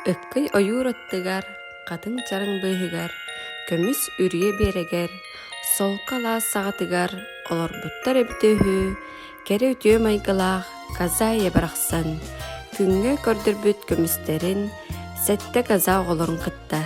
Өккөй ойуур оттугар, хатыҥ чараҥ быыһыгар, көмүс үрүйэ биэрэгэр, солко алаас саҕатыгар олорбуттар эбитэ үһү, кэрэ үтүө майгылаах Казая барахсан күҥҥэ көрдөрбүт көмүстэрин сэттэ каза оҕолорун кытта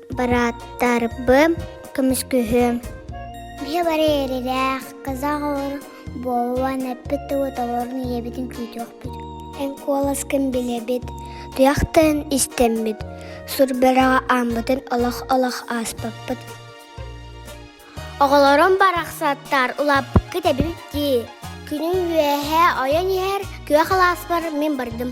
Барааттарбын көмүскүһүм. Биһи бары эрилээх, казах оҕолорун буолан эппит тылы толорун ийэбитин күүтүөхпүт. Эн куоласкын билэбит, туйахтан истэммит, сурбараҕа ааммытын олох-олох ааспаппыт. Оҕолорум барахсаттар улааппыккыт эбит дии. Күнүм үөһэ ойон иһэр күөх алааспар мин бардым.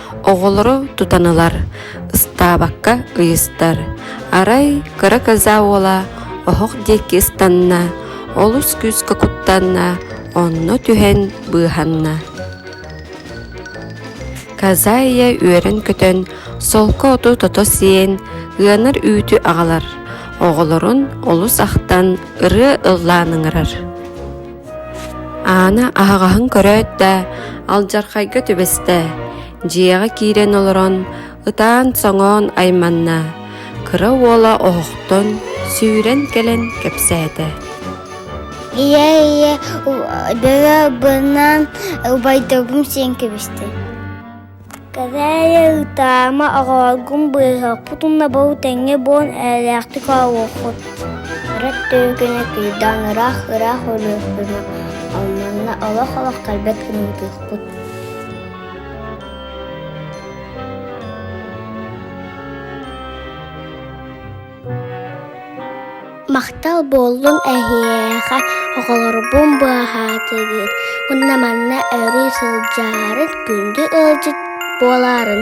оҕолору тутан ылар, ыстаабакка ыйыстар. Арай кыра коза уола оһох диэки ыстанна, олус күүскэ куттанна, онно түһэн быыһанна. Казайя үөрэн-көтөн, солко оту тото сиэн, ыанар үүтү аҕалар. Оҕолорун олус ахтан, ырыа ыллаан ыҥырар. Аана аһаҕаһын көрөөт да, алдьархайга түбэстэ, дьиэҕэ киирэн олорон, ытаан-соҥоон айманна, кыра уола оһохтон сүүрэн кэлэн кэпсээтэ: «Ийээ, ийээ, быһа быһынан убайдабым сиэн кэбистэ» Кэрэйэ ытаама, оҕолоргун быыһаппыт уонна бу тэҥҥэ буон эйэлээхтик оонньуоххут Ырыт түөкүнэ кыйдаан ыраах ыраах өлүөхпүнү Алманна олох олохтойбот гына ытыахпыт Махтал буоллун эһиэхэ, оҕолорбун быһаатыгыт, уонна манна өрүү сылдьарын, күндү ыалдьыт буоларын.